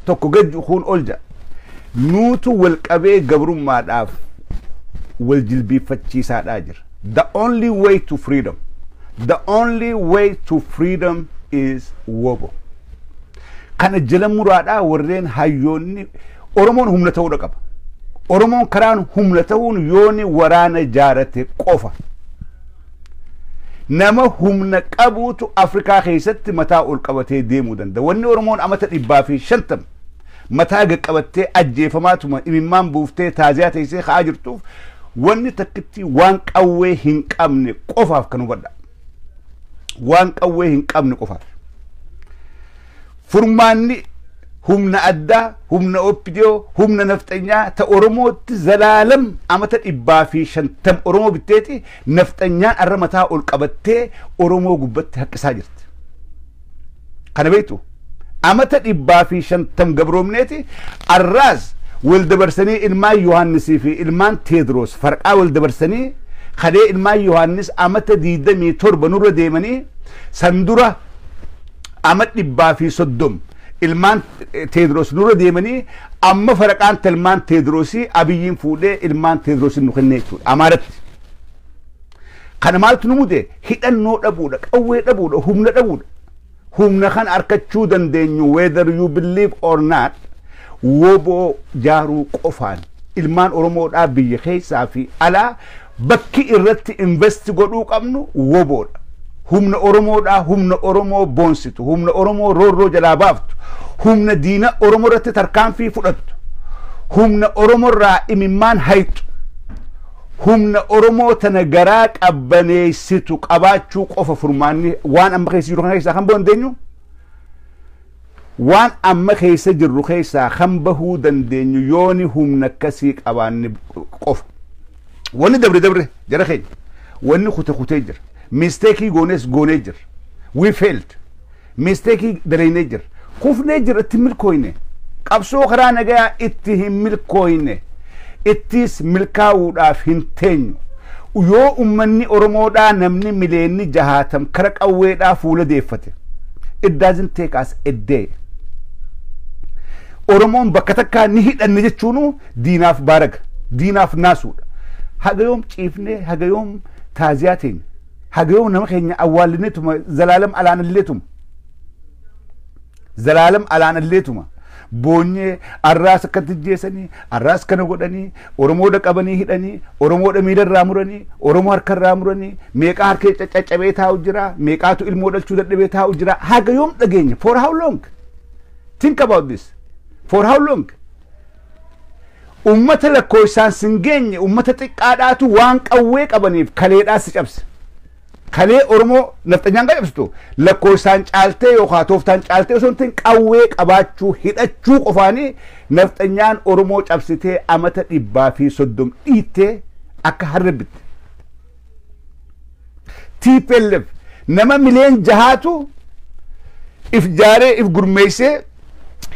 tokko gad kuun ol jedha. Nuutu wal qabee gabrummaadhaaf wal jilbiiffachiisaadhaa jira. The only way to freedom. The only way to freedom is wobo. Kana jala muraadhaa warreen hayyoonni Oromoon humna ta'uudha qaba. Oromoon karaan humna ta'uun yooni waraana ijaarate qofa. Nama humna qabuutu Afrikaa keessatti mataa ol qabatee deemuu danda'a. Wanni Oromoon amata dhibbaa fi shantama mataa gaqqabattee ajjeefamaatuma imimmaan buuftee taaziyaa teessee ka'aa jirtuuf wanni takkittii waan qawwee hin qabne qofaaf kan hubadha. waan qawwee hin qabne qofaaf. Furmaanni humna addaa, humna OPDO, humna nafxanyaa ta Oromootti zalaalam amata dhibbaa fi shantam Oromoo bitteeti nafxanyaan arra mataa ol qabattee Oromoo gubbatti haqqisaa jirti. Kana beektu amata dhibbaa fi shantam gabroomneeti arraas wal dabarsanii ilmaan Yohaannisii fi ilmaan Teediroos farqaa wal dabarsanii kadhee ilmaan Yohaannis amata diidamii torba nurra deemanii san dura ama dhibbaa fi soddom ilmaan Teediroos nurra deemanii amma farqaan ilmaan Teediroosii abiyyiin fuudhee ilmaan Teediroosiin nu kennee jechuudha. Amaaratti. Kana maaltu nu mude? Hidhannoo dhabuudha, qawwee dhabuudha, humna dhabuudha. Humna kana harkachuu dandeenyu whether you believe or not woboo jaaruu qofaan ilmaan Oromoodhaa biyya keessaa fi alaa bakki irratti invest godhuu qabnu woboodha. Humna Oromoodhaa humna Oromoo boonsitu, humna Oromoo roorroo jalaa baaftu, humna diina Oromoo irratti tarkaanfii fudhattu, humna Oromoo irraa imimmaan hayxu. humna Oromoo tana garaa qabbaneessitu qabaachuu qofa furmaanni waan amma keessa jiru kana keessaa kan bahuu dandeenyu waan amma keessa jirru keessaa kan bahuu dandeenyu yooni humna akkasii qabaanne qofa. Wanni dabre dabre jara keenya wanni kute kutee jira. Misteekii goonees goonee jira. We failed. Misteekii dalaynee jirra. Kufnee jirra itti hin milkooyne. Qabsoo karaa nagayaa itti hin milkooyne. Ittiis milkaawuudhaaf hin teenyu. Yoo ummanni Oromoodhaa namni mileenni jahaatam kara qawweedhaa fuula deeffate. It doesn't take us a day. Oromoon bakka takkaa ni hidhanne jechuunuu diinaaf baaraga. Diinaaf naasuudha. Haga yoom ciifnee haga yoom taaziyaa teenya. haga yoom nama keenya awwaallineetuma zalaalam alaanalleetuma zalaalam alaanalleetuma boonyee arraas akkatti jeesanii arraas kana godhanii oromoodha qabanii hidhanii oromoodha miila irraa muranii oromoo harka irraa muranii meeqaa harkee caccabee taa'u jira meeqaatu ilmoo dhalchuu dadhabee taa'u jira haga yoom dhageenya for how long think about this for how long Uummata lakkoofsaan sin geenye uummata xiqqaadhaatu waan qawwee qabaniif kaleedhaan si cabse. Kalee Oromoo nafxanyaan kan cabsitu lakkoofsaan caaltee yookaan tooftaan caaltee osoo hin ta'in qawwee qabaachuu hidhachuu qofaanii nafxanyaan Oromoo cabsitee amata dhibbaa fi soddom dhiittee akka harree bitte. Tplf nama mileen jahaatu if jaaree if gurmeessee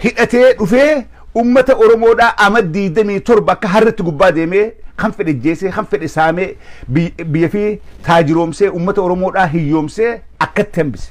hidhatee dhufee ummata Oromoodhaa ama 27 akka harretti gubbaa deemee kan fedhe jeesee kan fedhe saamee biyya fi taajiroomsee ummata Oromoodhaa hiyyoomsee akkatti hambise.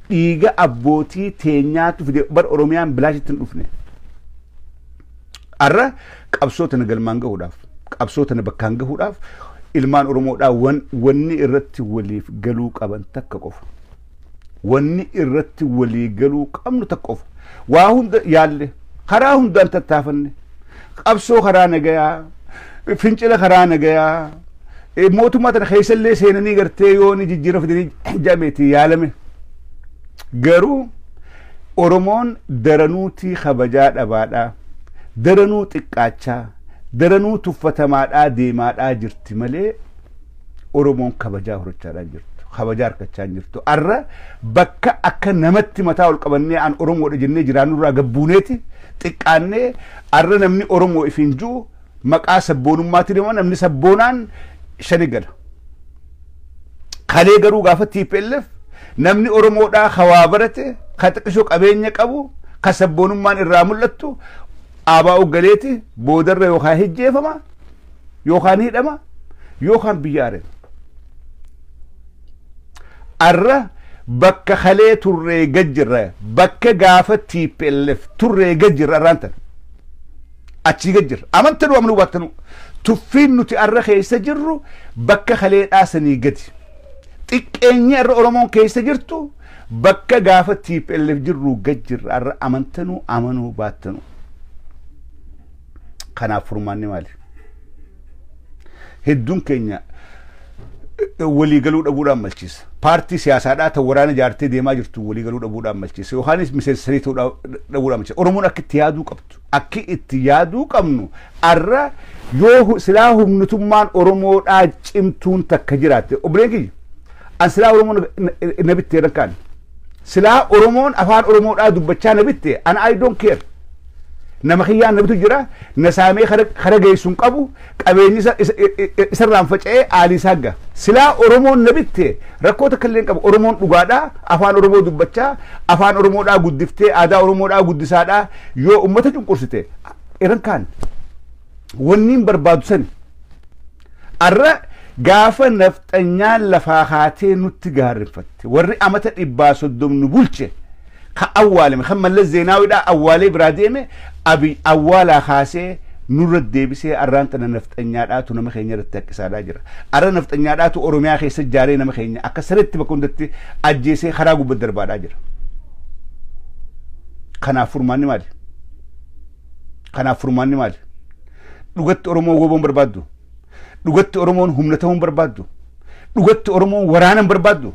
dhiiga abbootii teenyaatu fide bar oromiyaan bilaashitti hin dhufne arra qabsoo tana galmaan gahuudhaaf qabsoo tana bakkaan gahuudhaaf ilmaan oromoodhaa wan, wanni irratti waliif galuu qaban takka qofa wanni irratti walii galuu qabnu takka qofa waa hunda yaalle karaa hundaan tattaafanne qabsoo karaa nagayaa fincila karaa nagayaa eh, mootummaa tana keessa illee seenanii gartee yoo ni jijjiirra fidanii jameeti yaalame garuu oromoon daranuutii kabajaa dhabaadhaa daranuu xiqqaachaa daranuu tuffatamaadhaa deemaadhaa jirti malee Oromoon kabajaa horachaadhaa hin jirtu. Kabajaa harkachaa hin jirtu. Arra bakka akka namatti mataa ol qabannee an Oromoodha jennee jiraannurraa gabbuuneeti xiqqaannee arra namni Oromoo ifiin jiru maqaa sabboonummaatti deema namni sabboonaan shani gala. Kalee garuu gaafa TPLF namni Oromoodhaa hawaa barate ka xiqqisho qabeenya qabu ka sabboonummaan irraa mul'attu ABOf galeeti boodarra yookaan hijjeefama yookaan hidhama yookaan biyya ari'ama. Arra bakka kalee turree gad jirra bakka gaafa TPLF turree gad jirra arraan tana. Achii gad jirra. Amantanu amanu baatanu. Tuffiin nuti arra keessa jirru bakka kalee dhaasanii gadi. Xiqqeenyi arra Oromoon keessa jirtu Bakka gaafa tplf jirruu gad jirra arra amantanuu amanuu baattanuu. Kanaaf furmaanni maali? Hedduun keenya waliigaluu dhabuudhaan malchiisa. Paartii siyaasaadhaa ta'u waraana ijaartee deemaa jirtu waliigaluu dhabuudhaan malchiisa. Yookaanis miseensa sanii ta'uu dhabuudhaan malchiisa. Oromoon akka itti yaaduu qabdu. akki itti yaaduu qabnu arra yoo hu- silaa humnitummaan Oromoodhaa cimtuun takka jiraatte obboleen kiyya an silaa Oromoo na- na- na bittee nan kaane silaa Oromoon afaan Oromoodhaa dubbachaa na bitte an I don't care nama kiyyaan na bitu jira na saamee kara kara geessu hin qabu Qabeenyi isa isa isa irraan faca'ee aalii isaa ga. Silaa Oromoon na bitte rakkoo takka illee hin qabu. Oromoon dhugaadhaa, afaan Oromoo dubbachaa, afaan Oromoodhaa guddiftee, aadaa Oromoodhaa guddisaadhaa yoo ummata cunqursite, eran kaan wanni hin barbaadu sani. Arra gaafa nafxanyaan lafaa kaatee nutti gaarrinfatte, warri amata dhibbaa soddom nu bulche, Ka awwaalame, kan Mallas Zeenaawidhaa awwaalee biraa deeme, Abiy awwaalaa kaasee nurra deebisee arraan tana nafxanyaadhaatu nama keenya irratti haqqisaadhaa jira. Arra nafxanyaadhaatu Oromiyaa keessa jaaree nama keenya akka sareetti bakka hundatti ajjeesee karaa gubba darbaadhaa jira. Kanaaf furmaanni maali? Kanaaf furmaanni maali? Dhugatti Oromoon woboon barbaaddu? Dhugatti Oromoon humna ta'uun barbaaddu? Dhugatti Oromoon waraanan barbaaddu?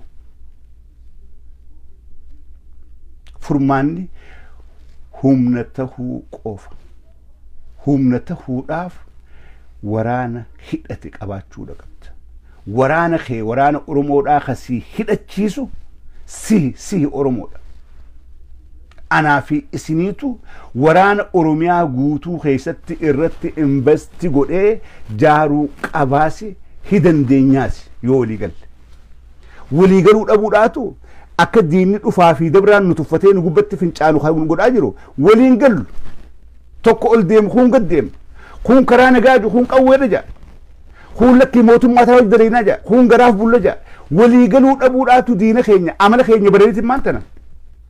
Furmaanni humna tahuu qofa. Humna tahuudhaaf waraana hidhate qabaachuudha qabda. Waraana kee waraana Oromoodhaa ka si hidhachiisu sihi sihi Oromoodha. Anaa fi isiniitu waraana Oromiyaa guutuu keessatti irratti investi godhee jaaruu qabaasi hidandeenyaasi yoo walii galle. Walii galuu dhabuudhaatu akka diinni dhufaa fi dabraan nu tuffatee nu gubbatti fincaanu kan godhaa jiru waliin gallu. Tokko ol deemu kuun gad deema. Kuun karaa nagaa jiru kuun qawweedha jaa. Kuun lakkii mootummaa isaa dalaynaa jaa. Kuun garaaf bulla jaa. Walii galuu dhabuudhaatu diina keenya amala keenya badaniitiin maan tana.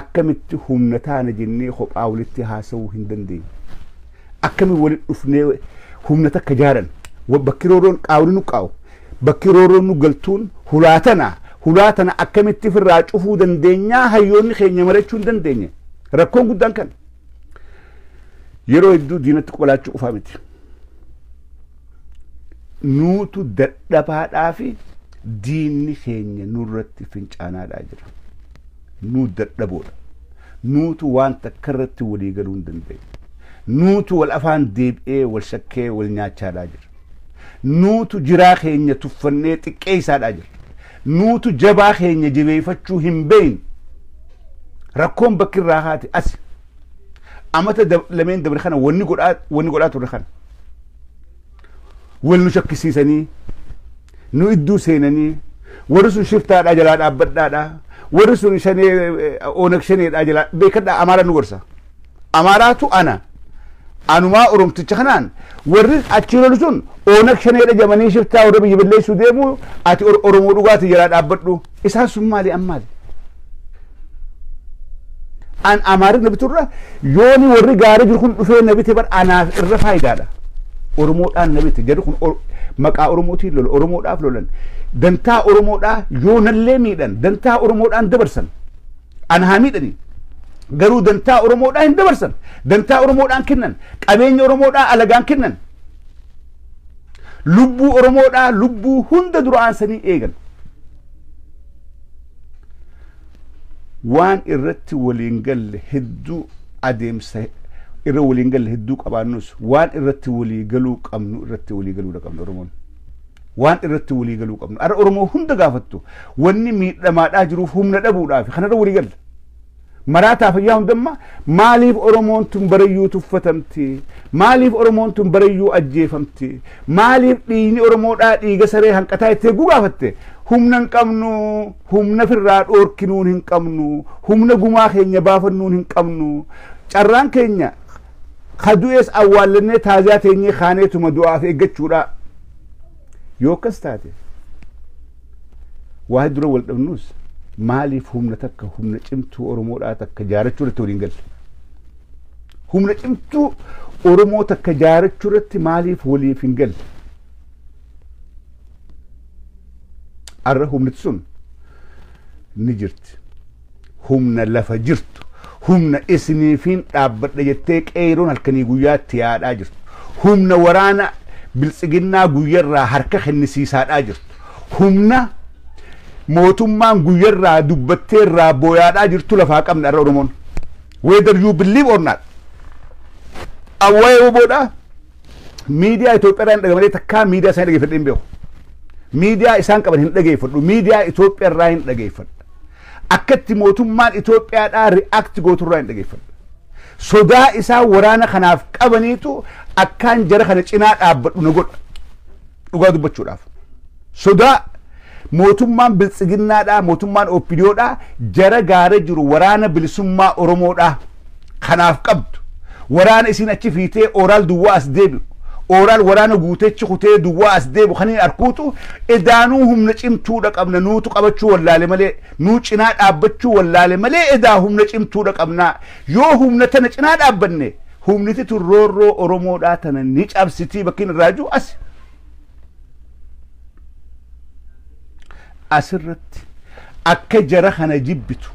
akkamitti humna taana jennee kophaa walitti haasa'uu hin dandeenye. Akkamitti walitti dhufnee humna takka jaaran bakki rooroon qaawni nu qaa'u bakki rooroon nu galtuun hulaa tana hulaa tana akkamitti firraa cufuu dandeenyaa hayyoonni keenya marachuu hin dandeenye. Rakkoon guddaan kan yeroo hedduu diinatti qolaachuu qofaa miti. Nuutu dadhabaadhaa fi diinni keenya nurratti fincaanaadhaa jira. Nu dadhaboodha. Nuutu waan takkarratti walii galuu hin dandeenye. Nuutu wal afaan deebi'ee wal shakkee wal nyaachaadhaa jirra. Nuutu jiraa keenya tuffannee xiqqeessaadhaa jirra. Nuutu jabaa keenya jabeeffachuu hin beekne. Rakkoon bakki irraa kaate asi. Amata dab- lameen dabre kana wanni godhaa wanni godhaa turre kana. wal nu shakkisiisanii nu idduu seenanii warri sun shiftaadhaa jalaa dhaabbadhaadhaa warri sun shanee eh, oonag shaneedhaa jalaa beekadhaa amaaraa nu gorsa amaaraatu ana anumaa oromticha kanaan warri achi lolu sun oonag shaneedha jamanii shiftaa warra biyya balleessuu deemu ati Or- oromoo dhugaati jalaa dhaabbadhu Isaan sun maali an maali? An Amaarif na biturra yooni warri gaarii jiru kun dhufee na bite bar anaaf irra faayidaadha. Oromoodhaan na bite jarri kun Or- maqaa Oromootiin lola Oromoodhaaf lolan dantaa Oromoodhaa yoonallee miidhan dantaa Oromoodhaan dabarsan an haa miidhanii garuu dantaa Oromoodhaa hin dabarsan dantaa Oromoodhaan kennan qabeenya Oromoodhaa alagaan kennan Lubbuu Oromoodhaa lubbuu hunda dura aansanii eegan. Waan irratti waliin galle hedduu adeemsa irra waliin galle hedduu qabaannus waan irratti walii galuu qabnu irratti walii galuu qabna Oromoon. Waan irratti walii galuu qabnu. Ara Oromoo hunda gaafattu wanni miidhamaadhaa jiruuf humna dhabuudhaaf kanarra walii galla. Maraataa fayyaa hundammaa maaliif Oromoon tun barayyuu tuffatamte? Maaliif Oromoon tun barayyuu ajjeefamte? Maaliif dhiigni Oromoodhaa dhiiga saree hanqataa itti eeguu gaafatte? Humna hin qabnu, humna firraa dhoorkinuun hin qabnu, humna gumaa keenya baafannuun hin qabnu. Carraan keenya ka du'ees awwaallannee taaziyaa teenyee kaaneetuma du'aaf eeggachuudha. Yoo akkas taate Waa'ee dura wal dhabnuus maaliif humna takka humna cimtuu Oromoodhaa takka jaarachuu irratti waliin galle? Humna cimtuu Oromoo takka jaarachuu irratti maaliif waliif hin galle? Arra humniti sun ni jirti. Humna lafa jirtu, humna isiniifiin dhaabbadha jettee qeeyroon halkanii guyyaa itti yaa'adhaa jirtu, humna waraana biltsiginnaa guyyarraa harka kennisiisaadhaa jirtu, humna mootummaan guyyarraa dubbattee irraa booyaadhaa jirtu lafaa qabna har'a Oromoon. Whether you believe or not. Awwayee wbo dha. miidiyaa Itoophiyaa irraa hin dhagamalee takkaa miidiyaa isaan dhageeffadhe hin beeku. Miidiyaa isaan qaban hin dhageeffadhu. Miidiyaa Itoophiyaa irraa hin dhageeffadha. Akkatti mootummaan Itoophiyaadhaa ri'aakti gootu irraa hin dhageeffadha. Sodaa isaan waraana kanaaf qabaniitu akkaan jara kana cinaa dhaabbadhu na godha. Dhugaa dubbachuudhaaf. Sodaa mootummaan biltsiginnaadhaa, mootummaan OPDOdhaa jara gaara jiru waraana bilisummaa Oromoodhaa kanaaf qabdu, waraana isiin achi fiitee ooraal duwwaa as deebi'u, ooraal waraana guutee achi kutee duwwaa as deebi'u kan hin arkuutu edaanuu humna cimtuudha qabna nuutu qabachuu wallaale malee, nuu cinaa dhaabbachuu wallaale malee edaa humna cimtuudha qabnaa. Yoo humna tana cinaa dhaabbanne humniti tun roorroo Oromoodhaa tana ni cabsitii bakkiin irraa jiru asi. asirratti akka jara kana jibbitu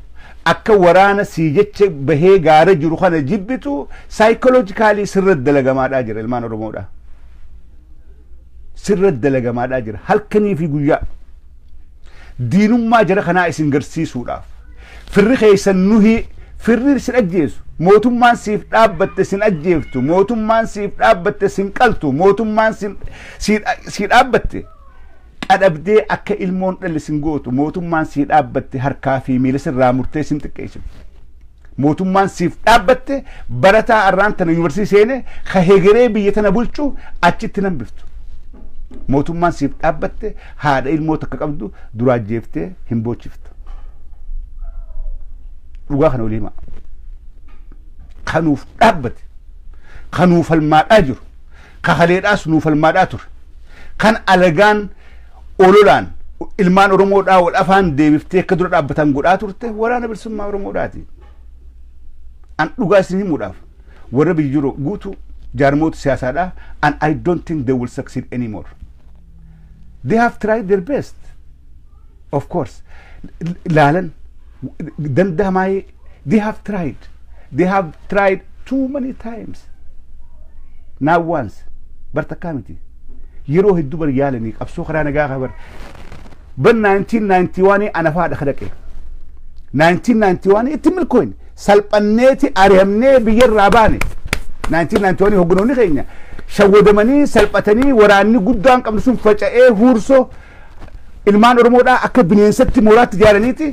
akka waraana sii jecha bahee gaara jiru kana jibbitu saayikoloojikaalii sirra dalagamaadhaa jira ilmaan oromoodhaa sirra dalagamaadhaa jira halkanii fi guyyaa diinummaa jara kanaa isin garsiisuudhaaf firri keessan nuhii firri sin ajjeesu mootummaan siif dhaabbatte sin ajjeeftu mootummaan siif dhaabbatte sin qaltu mootummaan sin- si si dhaabbatte qadhabdee akka ilmoon dhalle sin gootu mootummaan si dhaabbatte harkaa fi miila sirraa murtee sin xiqqeessifti. Mootummaan siif dhaabbatte barataa arraan tana yuunivarsiitii seene ka hegeree biyya tana bulchu achitti hin hambiftu. Mootummaan siif dhaabbatte haadha ilmoo takka qabdu duraa jeeftee hin boochiftu. Dhugaa kana olii himaa. Ka nuuf dhaabbate, ka nuuf falmaadhaa jiru, ka haleedhaas nuuf falmaadhaa ture, kan alagaan ololaan ilmaan Oromoodhaa wal afaan deebiftee akka dura dhaabbatan godhaa turte waraana bilisummaa Oromoodhaati. An dhugaa isin himuudhaaf warra biyya jiru guutuu jaarmoota siyaasaadhaa and I don't think they will succeed anymore. They have tried their best. Of course. Laalan danda'amaa they have tried they have tried too many times now once bar takkaa miti yeroo hedduu bar yaalanii qabsoo karaa nagaa kaa bar bar 1991 ana faadha ka dhaqe 1991 itti milkooyne salphanneeti ari'amnee biyyarraa baane 1991 hogganoonni keenya shawwadamanii salphatanii waraanni guddaan qabnu sun faca'ee huursoo ilmaan Oromoodhaa akka bineensatti mooraatti ijaaraniiti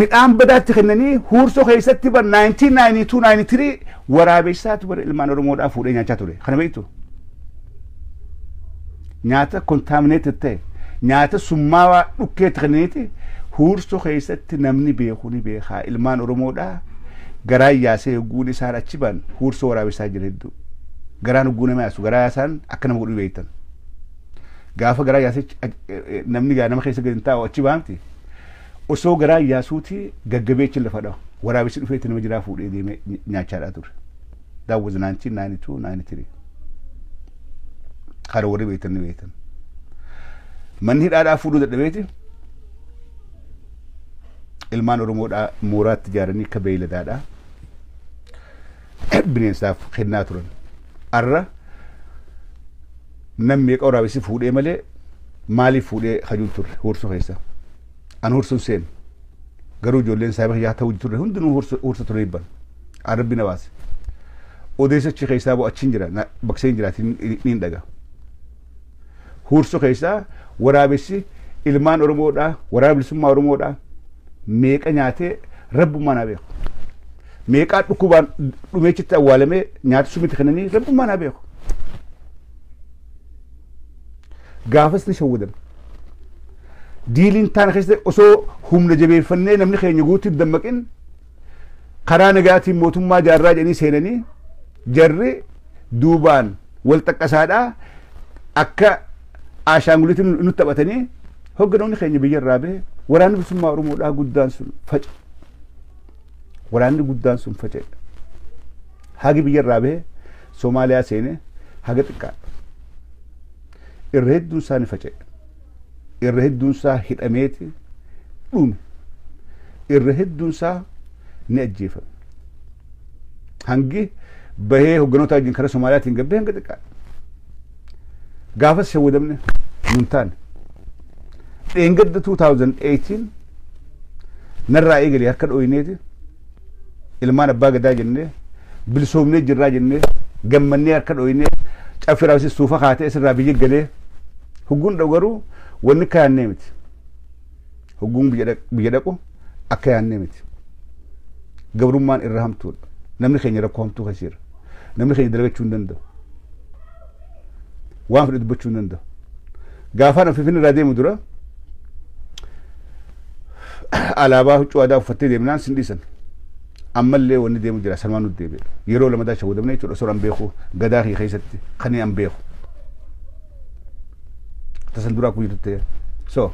midhaan badaatti kennanii huursoo keessatti bar 1992-93 waraabessaatu bar ilmaan Oromoodhaa fuudhee nyaachaa ture. Kana beektu? Nyaata kontaamineeted ta'e nyaata summaawaa dhukkeetti kennaniiti huursoo keessatti namni beeku ni beekaa ilmaan Oromoodhaa garaa yaasee hogguun isaan achi ba'an huursoo waraabessaa jira hedduu. Garaan hogguu nama yaasu garaa yaasaan akka nama godhu beektan. Gaafa garaa yaasichi namni gaa nama keessa gadi hin taa'u achi baamti. Osoo garaa yaasuuti gaggabee achi lafa dhawa. Waraabessi dhufee itti nama jiraa fuudhee deemee nyaachaadhaa ture. That was 1992, 93. Kana warri beektan ni beektan. Manni hidhaadhaa fuudhuu dadhabeeti. Ilmaan Oromoodhaa mooraatti ijaaranii akka beeyladaadhaa. bineensaaf kennaa turan. Arra nam meeqa waraabessi fuudhee malee maaliif fuudhee kajuun turre huursu keessa. An huursuun seenu. Garuu ijoolleen saaba kiyyaa ta'uu turre hundinuu huursa ture ibban. An rabbi na baase. Odeessa achi keessaa boo achiin jira bakseen jiraatiin niin dhaga. Huursu keessaa waraabessi ilmaan Oromoodhaa, waraana bilisummaa Oromoodhaa meeqa nyaatee rabbummaan haa beeku. Meeqaa dhukkubaan dhumeechitti awwaalamee nyaata sumitti kennanii rabbummaan haa beeku. Gaafas ni shawwadame. Diiliin taana keessatti osoo humna jabeeffannee namni keenya guutuutti dammaqin karaa nagaatiin mootummaa jaarraa jedhanii seenanii jarri duubaan wal xaqqasaadhaa akka aashaanguliitti nu taphatanii hogganoonni keenya biyya irraa bahe waraanni bilisummaa Oromoodhaa guddaan sun faca'e. Waraanni guddaan sun faca'e. Hagi biyya irraa bahe Somaaliyaa seenee haga xiqqaadha. Irra hedduun isaanii faca'e. irra hedduun isaa hidhameeti dhume irra hedduun isaa ni ajjeefame hangi bahee hogganoota wajjin karaa Somaaliyaatiin gabbee hanga xiqqaa gaafas shawwadamne nun taane dheengadda 2018 narraa eegalee harka dhooyineeti ilmaan abbaa gadaa jennee bilisoomnee jirraa jennee gammannee harka dhooynee caffee raawwisiis suufa kaatee isirraa biyya galee hugguun dha'u garuu wanni akka yaannee miti. Hugguun biyya dhaq- biyya dhaqu akka yaannee miti. Gabrummaan irra hamtuudha. Namni keenya rakkoo hamtuu keessa jira. Namni keenya dalagachuu hin danda'u. waan fedhe dubbachuu hin danda'u. Gaafaan of finfinnee irraa deemu dura alaabaa huccuu aadaa uffattee deemnaan sin dhiisan. Ammallee wanni deemu jira sanumaan nuti deebi'e. Yeroo lamadaa shawwadamne jechuudha osoo an beeku gadaa kiyya keessatti kan an beeku. tasan duraa kun jirtutte so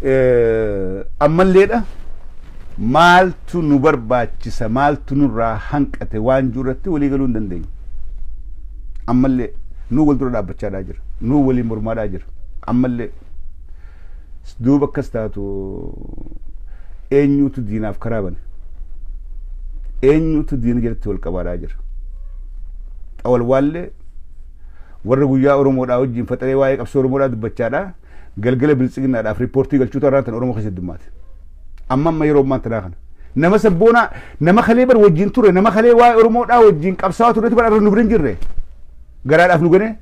eh, ammalleedha maaltu nu barbaachisa maaltu nurraa hanqate waan jiru irratti walii galuu hin dandeenye ammallee nuu wal dura dhaabbachaadhaa jira nuu waliin mormaadhaa jira ammallee duuba akkas taatu eenyuutu diinaaf karaa bane eenyuutu diina jalatti wal qabaadhaa jira xawalwaallee Warra guyyaa Oromoodhaa wajjin faxaree waa'ee qabsoo Oromoodhaa dubbachaadhaa galgala biltsiginnaadhaaf riippoortii galchuutu har'aan tana Oromoo keessa heddummaate. Amma amma yeroo ammaan tanaa kana. Nama sabboonaa nama kalee bar wajjin ture nama kalee waa'ee Oromoodhaa wajjin qabsaawaa turetu bar arra nu bira hin jirre. Garaadhaaf nu ganee.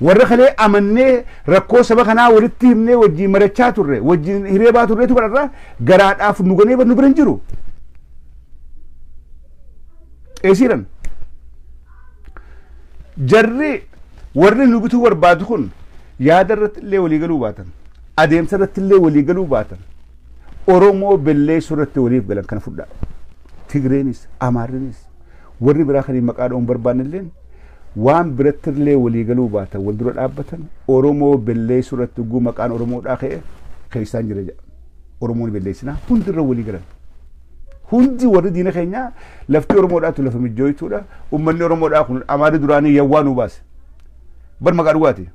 Warra kalee amannee rakkoo saba kanaa walitti himnee wajjin marachaa turre wajjin hiree baa turretu bar arra garaadhaaf nu ganee bar nu bira hin jiru. Eesiidhan. Jarri warri nu bituu barbaadu kun yaada irratti illee walii galuu baatan, adeemsa irratti illee walii galuu baatan, Oromoo belleessuu irratti waliif galan kana fudhaa. Tigreenis, Amaarrinis, warri biraa kan maqaa dha'uun barbaanne illee waan biratti illee walii galuu baatan wal dura dhaabbatan Oromoo belleessuu irratti ugguu maqaan Oromoodhaa ka'e keessaan jira jedha. Oromoo ni balleessinaa hundi irra walii galan. Hundi warri diina keenyaa lafti Oromoodhaatu lafa mijjooytuudha. Uummanni Oromoodhaa kun amaarri duraanii yawwaa nu baase. Bar maqaa dhugaati.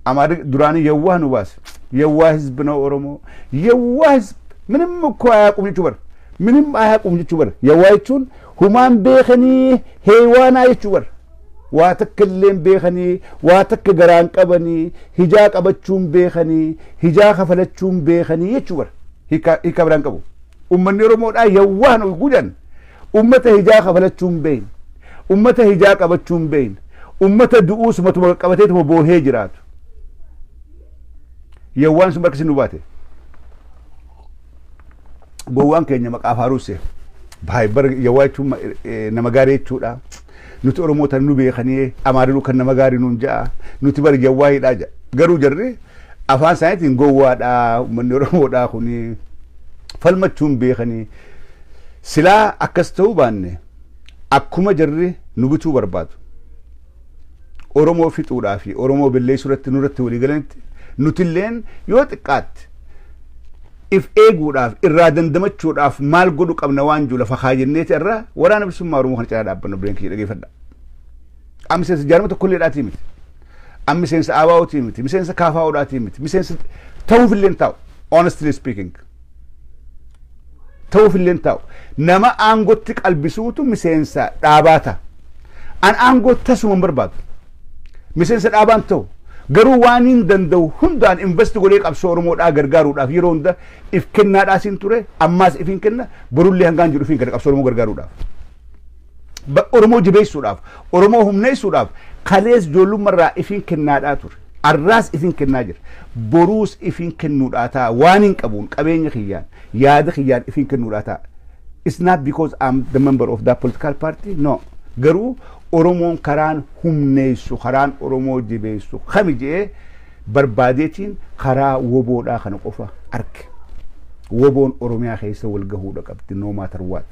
Amaarri duraanii yawwaa nu baase. Yawwaa hizbi na Oromoo. Yawwaa hizbi. Minim koo ayaa qum jechuu bar. Minim ayaa qum jechuu bar. Yawwaa jechuun Humaan beekanii heewaanaa jechuu bar. Waa takka illeen beekanii, waa takka garaan qabanii, hijaa qabachuun beekanii, hijaa kafalachuun beekanii jechuu bar. Hiika hiika biraan qabu. Ummanni Oromoodhaa yawwaan ol gudan ummata hijaa kafalachuun beeyin, ummata hijaa qabachuun beeyin, ummata du'uus matuma qaqqabateetuma boohee jiraatu. Yawwaan sun barkisi nu baate. gowwaan keenya maqaa faaruusse baay'ee yawaa jechuun ma- eh, nama gaarii jechuudha nuti oromoota nu beekanii amaarinuu kan nama gaarii nuun ja'a nuti bari yawaa hidhaa ja'a garuu jarri afaan isaaniitiin gowwaadha uummanni oromoodha kuni falmachuun beekanii silaa akkas ta'uu baanne akkuma jarri nu bituu barbaadu Oromoo fixuudhaa fi Oromoo belleessuu irratti nurratti walii galanitti nutilleen yoo xiqqaatte if eeguudhaaf irraa dandamachuudhaaf maal godhu qabna waan jiru lafa kaajenneeti irra waraana bilisummaa Oromoo kana cinaa dhaabbanna obboleen kiyya dhageeffadha. Amma miseensa jaarma tokkollee dhaatii miti. Amma miseensa ABOtii miti. Miseensa KFOdhaatii miti. Miseensa ta'uufillee hin taa'u. Honestly speaking. ta'uuf illee hin taa'u. Nama aangootti qalbisuutu miseensa dhaabaa ta'a. An aangoo tasuma hin barbaadu. Miseensa dhaabaa hin ta'u. Garuu waan hin danda'u hundaan investi godhee qabsoo Oromoodhaa gargaaruudhaaf yeroo hunda if kennaadhaas hin ture ammaas if hin kenna borullee hangaan jedhu fi hin kenna qabsoo Oromoo gargaaruudhaaf. Ba- Oromoo jabeessuudhaaf, Oromoo humneessuudhaaf kalees ijoollummarraa ifiin kennaadhaa ture. Arraas ifiin kennaa jira. Boruus ifiin kennuudhaa ta'a. Waaniin qabuun, qabeenya kiyyaan, yaada kiyyaan ifiin kennuudhaa ta'a. It's not because I'm the member of that political party, no. Garuu Oromoon karaan humneessu, karaan Oromoo jabeessu kami jedhee barbaadeetiin karaa woboodhaa kana qofa arge. Woboon Oromiyaa keessa wal gahuudha qabdi, no matter what.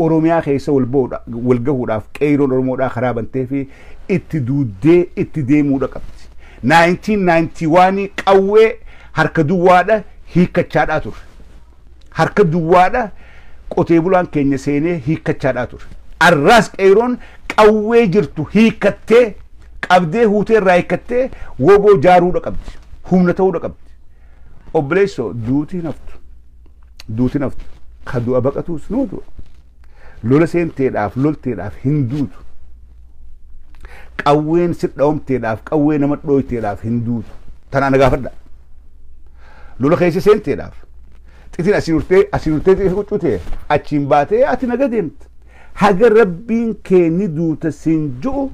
Oromiyaa keessa wal ba'uudha wal gahuudhaaf qeeyroon Oromoodhaa karaa bantee fi itti duuddee itti deemuudha qabdi. 1991 qawwee harka duwwaadha hiikkachaadhaa turre. Harka duwwaadha qotee bulaan keenya seenee hiikkachaadhaa turre. Arraas qeeyroon qawwee jirtu hiikkattee qabdee huutee irraa hiikkattee woboo jaaruudha qabdi. Humna ta'uudha qabdi. Obboleessoo duuti hin haftu. duuti naftu ka du'a baqatuus nuu du'a lola seenteedhaaf lolteedhaaf hin duutu qawween sidhaomteedhaaf qawwee nama dhooyteedhaaf hin duutu tanaa na gaafadha lola keessa seenteedhaaf xitiin asii urtee asii urtee xitii quccutee achiin baatee ati naga deemta haga rabbiin kee ni duuta siin ju'u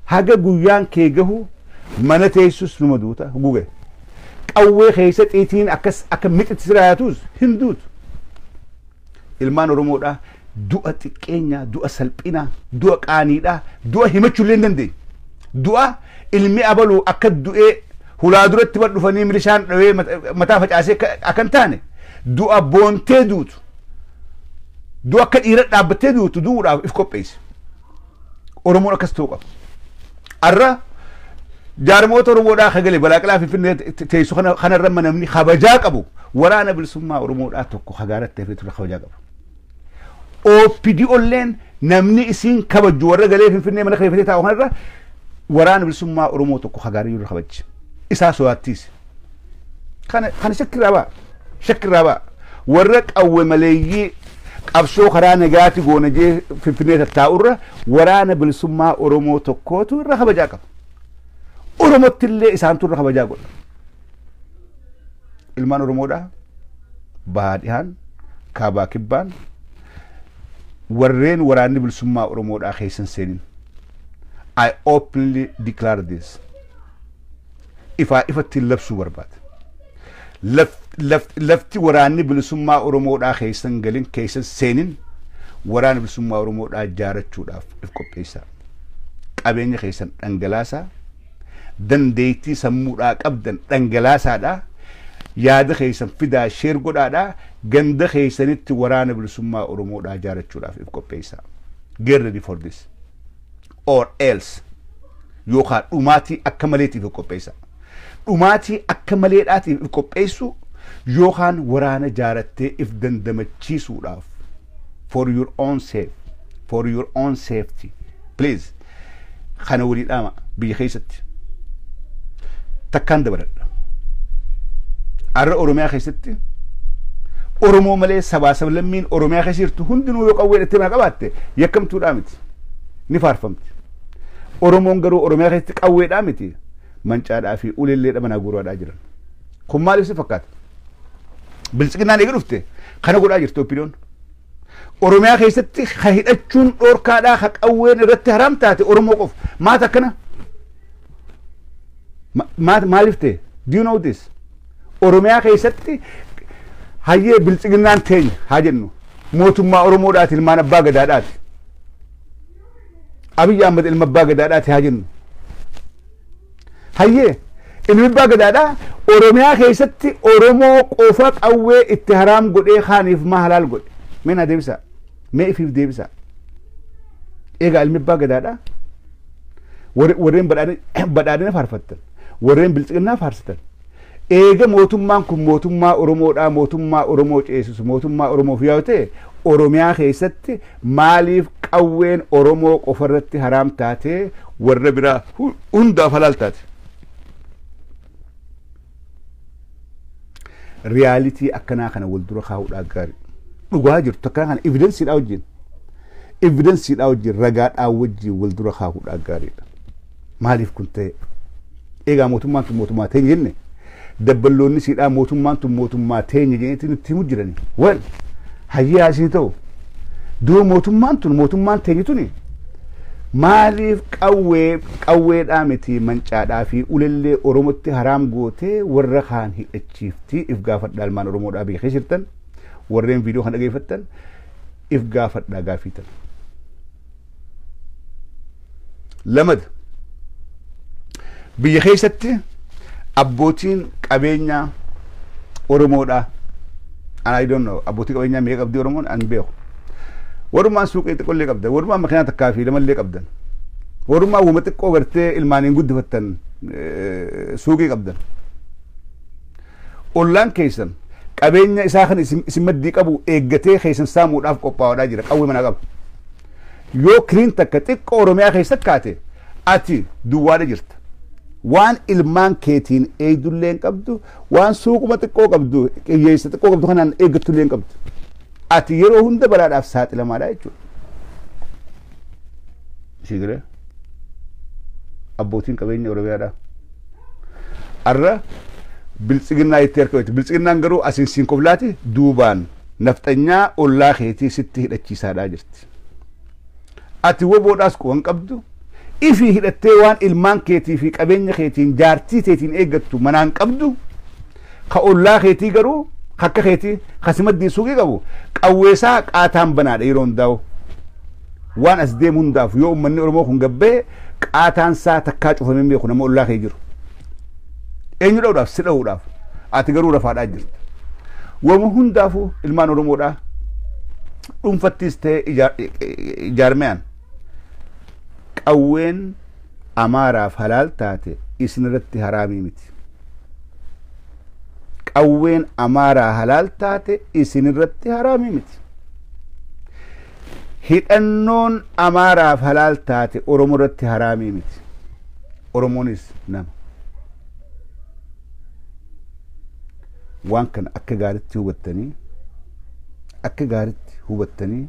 Haga guyyaan kee gahu mana teessus numa duuta guge qawwee keessa xiitiin akkas akka mixitti sira yaatuus hin duutu. Ilmaan Oromoodhaa du'a xiqqeenyaa, du'a salphinaa, du'a qaaniidhaa, du'a himachuu illee hin dandeenye. Du'a ilmi abaluu akka du'ee hulaa duratti bar dhufanii milishaan dhawee mataa facaasee akka hin taane du'a boontee duutu du'a akka dhiira dhaabbattee duutu du'uudhaaf if qopheessi. Oromoon akkas ta'uu qaba. Har'a jaarmoota Oromoodhaa akka gale balaaqilaa finfinnee teessu kana kanarra namni kabajaa qabu waraana bilisummaa Oromoodhaa tokko hagaaratti hafee ture kabajaa qabu. OPDOlleen namni isiin kabajju warra galee finfinnee mana kireeffatee taa'u kanarra waraana bilisummaa Oromoo tokko hagaarii irra kabajji. Isaa sodaattiisi. Kana kana shakkirraa ba'a. Shakkirraa ba'a. Warra qawwe maleeyyii qabsoo karaa nagaati goona jee finfinnee tattaa'urra waraana bilisummaa Oromoo tokkootu irra kabajaa qaba. Oromotti illee isaantu irra kabajaa godha. Ilmaan Oromoodhaa bahaa dhihaan kaabaa kibbaan warreen waraanni bilisummaa Oromoodhaa keessa hin seenin. I openly declare this. ifaa ifatti labsuu barbaada. Laf- laf- Lafti waraanni bilisummaa Oromoodhaa keessan galin keessan seenin waraana bilisummaa Oromoodhaa ijaarachuudhaaf if qopheessaa. Qabeenya keessan dhangalaasaa dandeettii sammuudhaa qabdan dhangalaasaadhaa yaada keessan fidaa sheer godhaadhaa ganda keessanitti waraana bilisummaa Oromoodhaa ijaarachuudhaaf if qopheessaa. Get ready for this. or else yookaan dhumaatii akka maleetiif of qopheessa. Dhumaatii akka maleedhaatiif of qopheessuu yookaan waraana jaarattee if dandamachiisuudhaaf for your own safe for your own safety please kana walii dhaama biyya keessatti takkaan dabaladha. Arra Oromiyaa keessatti Oromoo malee sabaa sablammiin Oromiyaa keessa jirtu hundinuu yoo qawwee dhattee maa qabaatte yakkamtuudhaa miti. ni faarfamti. Oromoon garuu Oromiyaa keessatti qawweedhaa miti mancaadhaa fi uleelleedha manaa guuraadhaa jiran. Kun maaliif si fakkaata? Biltsiginnaan eega dhufte kana godhaa jirti opiniyoon. Oromiyaa keessatti ha hidhachuun dhoorkaadhaa ha qawween irratti haraam taate Oromoo qofa. Maata akkana? Ma- maat- Maaliif ta'e? Do you know this? Oromiyaa keessatti hayyee biltsiginnaan teenya haa jennu mootummaa Oromoodhaati ilmaan abbaa gadaadhaati. Abiyyi Ahmad ilma abbaa gadaadhaati haa jennu. Hayyee ilmi abbaa gadaadhaa Oromiyaa keessatti Oromoo qofa qawwee itti haraam godhee kaaniif maa halaal godhe. Mee naa deebisaa. Mee ifiif deebisaa. Egaa ilmi abbaa gadaadhaa warreen badhaadhina faarfattan warreen bilxiginnaa faarsitan Eega mootummaan kun mootummaa Oromoodhaa mootummaa Oromoo ceesisu mootummaa Oromoof yoo ta'e Oromiyaa keessatti maaliif qawween Oromoo qofarratti haraam taatee warra biraa hundaaf halaal taate? Riyaalitii akkanaa kana wal dura kaa'uudhaa gaarii. Dhugaa jirtu akkanaa kana evidensiidhaa wajjin evidensiidhaa wajjin ragaadhaa wajjin wal dura kaa'uudhaa gaariidha. Maaliif kun ta'e? Egaa mootummaan tun mootummaa teenya jenne dabballoonni siidhaa mootummaan tun mootummaa teenya jennetti nutti himu jirani. Wal hayyaa isin ta'u doo mootummaan tun mootummaan teenya tuni maaliif qawwee qawweedhaa miti mancaadhaa fi ulellee Oromotti haraam gootee warra kaan hidhachiiftii if gaafadha almaan Oromoodhaa biyya keessa jirtan warreen viidiyoo kan dhageeffattan if gaafadhaa gaafii tana. Lamada biyya keessatti abbootiin qabeenyaa Oromoodha. Ana I don't know abbootii qabeenyaa meeqa qabdi Oromoon an beeku. Warrumaan suuqii xiqqollee qabdan, warrumaan makiinaa takkaa fi lamallee qabdan, warrumaan wama xiqqoo gartee ilmaaniin guddifattan eh, suuqii qabdan. Ollaan keessan qabeenya isaa kan isin isin maddii qabu eeggatee keessan saamuudhaaf qophaawaadhaa jira qawwee manaa qaba. Yoo kiriin takka xiqqoo Oromiyaa keessa kaate ati duwwaadha jirta. Waan ilmaan keetiin eegdullee hin qabdu, waan suuquma xiqqoo qabdu, qiyyeessa xiqqoo qabdu kanaan eeggattullee hin qabdu. Ati yeroo hunda balaadhaaf saaxilamaadha jechuudha. Sii galee? Abbootiin qabeenya Oromiyaadhaa. Arra biltsiginnaa itti harka wayita. Biltsiginnaan garuu asiin siin koflaati duubaan nafxanyaa ollaa keetii sitti hidhachiisaadhaa jirti. Ati woboodhaas quban qabdu ifii hidhattee waan ilmaan keetii fi qabeenya keetiin jaartii teetiin eeggattu manaan qabdu Ka ollaa keetii garuu ka akka keetii ka si maddiin suuqii qabu qawweesaa qaataan banaadha yeroo hundaa'u. Waan as deemu hundaaf yoo uummanni Oromoo kun gabbee qaataan isaa takkaa cufamee beeku nama ollaa kee jiru. Eenyu dha'uudhaaf si dha'uudhaaf ati garuu rafaadhaa jirta. Wama hundaafuu ilmaan Oromoodhaa dhuunfattiis ta'ee ijaarmeyaan qawween Amaaraaf halaal taate isinirratti haraamii miti. Qawween Amaaraa halaal taate isinirratti haraamii miti. Hidhannoon Amaaraaf halaal taate Oromoo irratti haraamii miti. Oromoonis nama. Waan kana akka gaaritti hubattanii akka gaaritti hubattanii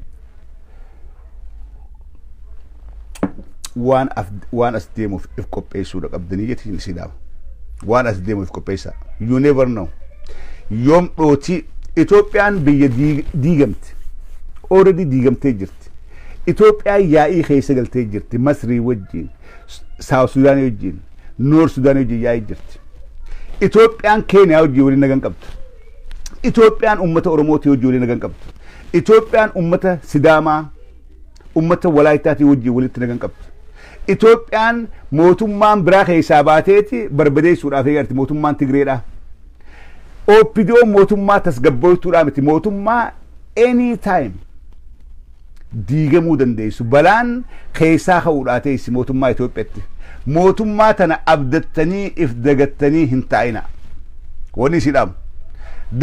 waan af waan as deemuuf if qopheessuudha qabdanii jetiin islaama waan as deemuuf if qopheessaa you never know yoom dhootii Itoophiyaan biyya diig- diigamte already diigamtee jirti Itoophiyaan yaa'ii keessa galtee jirti Masrii wajjin Saawut Sudaanii wajjin Noor Sudaanii wajjin yaa'ii jirti Itoophiyaan Keeniyaa wajjin waliin nagan qabdu Itoophiyaan uummata Oromootii wajjin walii nagaa hin qabdu. Itoophiyaan uummata Sidaamaa, uummata Walaayittaatii wajjin walitti nagaa hin qabdu. Itoophiyaan mootummaan biraa keessaa baateeti barbadeessuudhaaf eegarti mootummaan Tigreedhaa. OPDO mootummaa tasgabbooftuudhaa miti mootummaa any time diigamuu dandeessu balaan keessaa ka'uu dhaa teessi mootummaa Itoophiyatti mootummaa tana abdattanii if dagattanii hin taa'ina wani isii dhaamu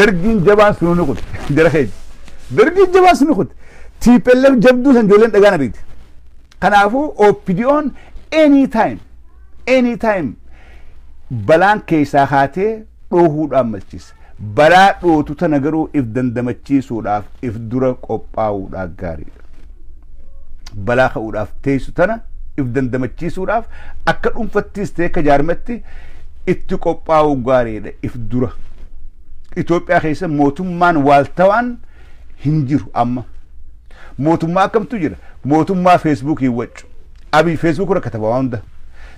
dargiin jabaan sununi kun jara keenya dargiin jabaan sununi kun TPLF jabduu san ijoolleen dhagaa na beekti kanaafuu OPDOn any time any time balaan keessaa kaatee dhoohuudhaan malchiisa. Balaa dhootu tana garuu if dandamachiisuudhaaf if dura qophaa'uudhaa gaariidha. Balaa ka'uudhaaf teessu tana if dandamachiisuudhaaf akka dhuunfattiis ta'e akka jaarmatti itti qophaa'uu gaariidha if dura. Itoophiyaa keessa mootummaan waaltawaan hin jiru amma. Mootummaa akkamtu jira? Mootummaa feesbuukiin waccu. Abiy facebook irra kataba waa hunda.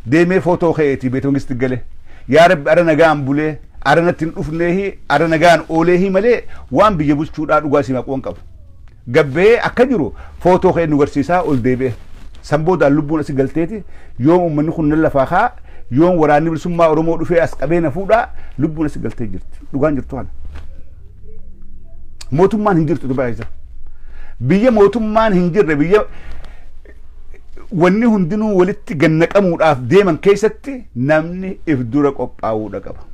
Deemee photo ka'e ti beta mangisti gale. Yaa rabbi ara nagaan bulee ara natti hin dhufneehi ara nagaan ooleehi malee waan biyya bulchuu dhaa dhugaa isiin haquwan qabu. Gad bahee akka jiru photo ka'e nu garsiisaa ol deebi'e. San boodaan lubbuun asi galtee ti yoom ummanni kun nan lafaa ka'a yoom waraanni bilisummaa oromoo dhufee as qabee na fuudhaa lubbuun asi galtee jirti. Dhugaan jirtu kana. Mootummaan hin jirtu Dubai keessa. Biyya mootummaan hin jirre biyya wanni hundinuu walitti gannaqamuudhaaf deeman keessatti namni if dura qophaa'uudha qaba.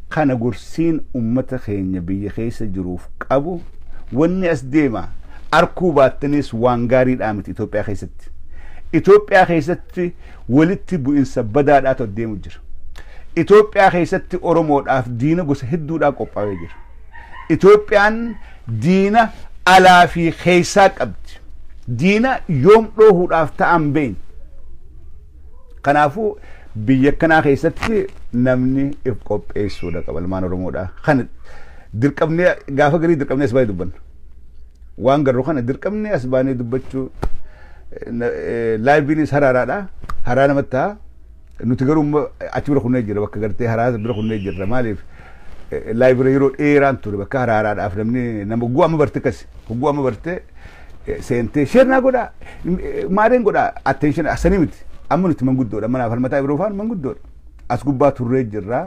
Kana gorsiin ummata keenya biyya keessa jiruuf qabu wanni as deema arkuu baattanis waan gaariidhaa miti Itoophiyaa keessatti. Itoophiyaa keessatti walitti bu'insa badaadhaatu as deemu jira. Itoophiyaa keessatti Oromoodhaaf diina gosa hedduudhaa qophaa'ee jira. Itoophiyaan Diina alaa fi keessaa qabdi. Diina yoom dhoohuudhaaf ta'an beekna. Kanaafuu biyya akkanaa keessatti namni if qopheessuudha qaba ilmaan Oromoodha. Kana dirqamnee gaafa garii dirqamnee as baay'ee dubbanna. Waan garuu kana dirqamnee as baanee dubbachuu laayiviinis haraaraadha. Haraa namatti ta'a. Nuti garuu amma achi bira kunnee jirra bakka gartee haraasa bira kunnee jirra maaliif live irra yeroo dheeraan ture bakka haraaraadhaaf namni nama hogguu amma barte akkas hogguu amma barte eh, seentee sheer naa godhaa m- eh, maareen godhaa attention asanii miti amma nuti manguddoodha manaaf harmataa biroo faan manguddoodha as gubbaa turree jirra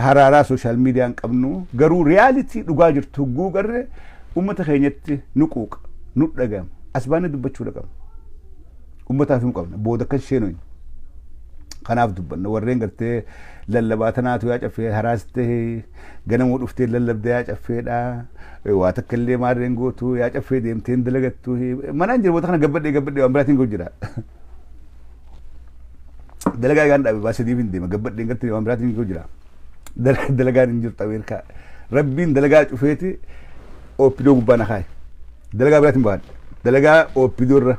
haraaraa sooshaal miidiyaan qabnu garuu riyaalitii dhugaa jirtu hogguu garre uummata keenyatti nu quuqa nu dhaga'ama as baanee dubbachuudha qabna. Ummataaf him qabna. Booda akka hin sheenoyne. Kanaaf dubbanna. Warreen gartee lallabaa tanaatu yaa caffee haraas ta'e ganamuu dhuftee lallabda yaa caffeedha. Waa takka illee maarreen gootu yaa caffee deemtee hin dalagattu. Manaan jira booda kana gabbadhee gabbadhee waan biraatiin ga'u jira. Dalagaa egaan dhaabe baasee deebi hin deema gabbadheen gartee waan biraatiin ga'u jira. Dalagaan hin jirtu Ameerikaa. Rabbiin dalagaa cufeeti opdo gubbaa na kaaye. Dalagaa biraatiin baadhe. Dalagaa opdo irra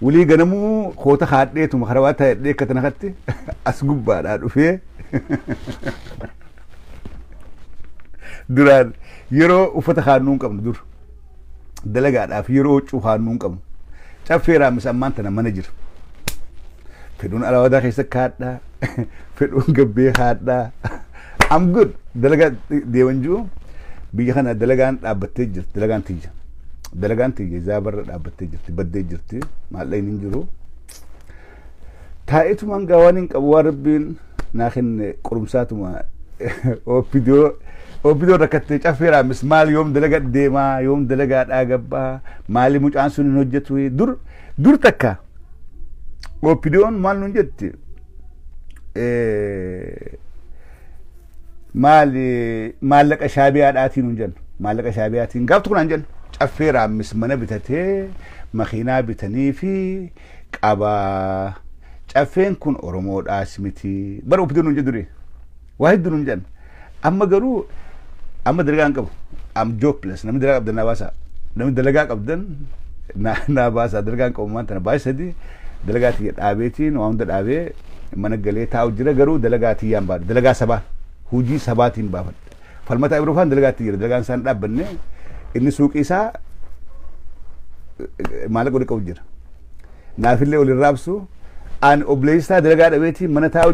wulii ganamuu koota kaadheetuma karawaa taa'edhee akka tana katti as gubbaadhaa dhufee duraan yeroo uffata kaannuu hin qabnu dur dalagaadhaaf yeroo huccuu kaannuu hin qabnu caffee raammis ammaan tana mana jira. Fedhuun alaawadaa keessa kaadhaa. fedhuun gabbee haadhaa I'm good dalagaa deeman jiru biyya kana dalagaan dhaabbattee jirti dalagaan tiyya dalagaan tiyya zaabarra dhaabbattee jirti baddee jirti maallaqni hin jiru taa'etumaan gaa waan hin qabu waan rabbiin naa kenne qorumsaatuma oopidoo oopidoo rakkattee caffeeraa mis maal yoom dalaga deemaa yoom dalagaa dhaagabbaa maali mucaan sun hin hojjetu dur dur takka Oppidiyoon maal nuun jetti? Maal maallaqa shaabiyaadhaatiin nuun jennu. Maallaqa shaabiyaatiin gaaf tokko naan jennu. Caffee raammis mana bitatee makiinaa bitanii fi qabaa. Caffeen kun Oromoodhaas miti. Bara oppidiyoon nuun jedhu duree. Waa hedduu nuun jedhan. Amma garuu amma dalagaa hin qabu. Am jobless. Namni dalagaa qabdan naa baasaa. Namni dalagaa qabdan naa naa baasaa. Dalagaa hin qabu maan tana baay'ee sadii dalagaa tiyya dhaabeetiin waa hunda dhaabee mana galee taa'u jira garuu dalagaa tiyyaan baadhu. Dalagaa sabaa hujii sabaatiin baafadha. Falmataa Ibroofaan dalagaa itti jira. Dalagaan isaan dhaabbanne inni suuqii isaa maallaqa walitti qabu jira. Naafillee waliin raabsu ani obboleessaa dalagaa dhabeetiin mana taa'u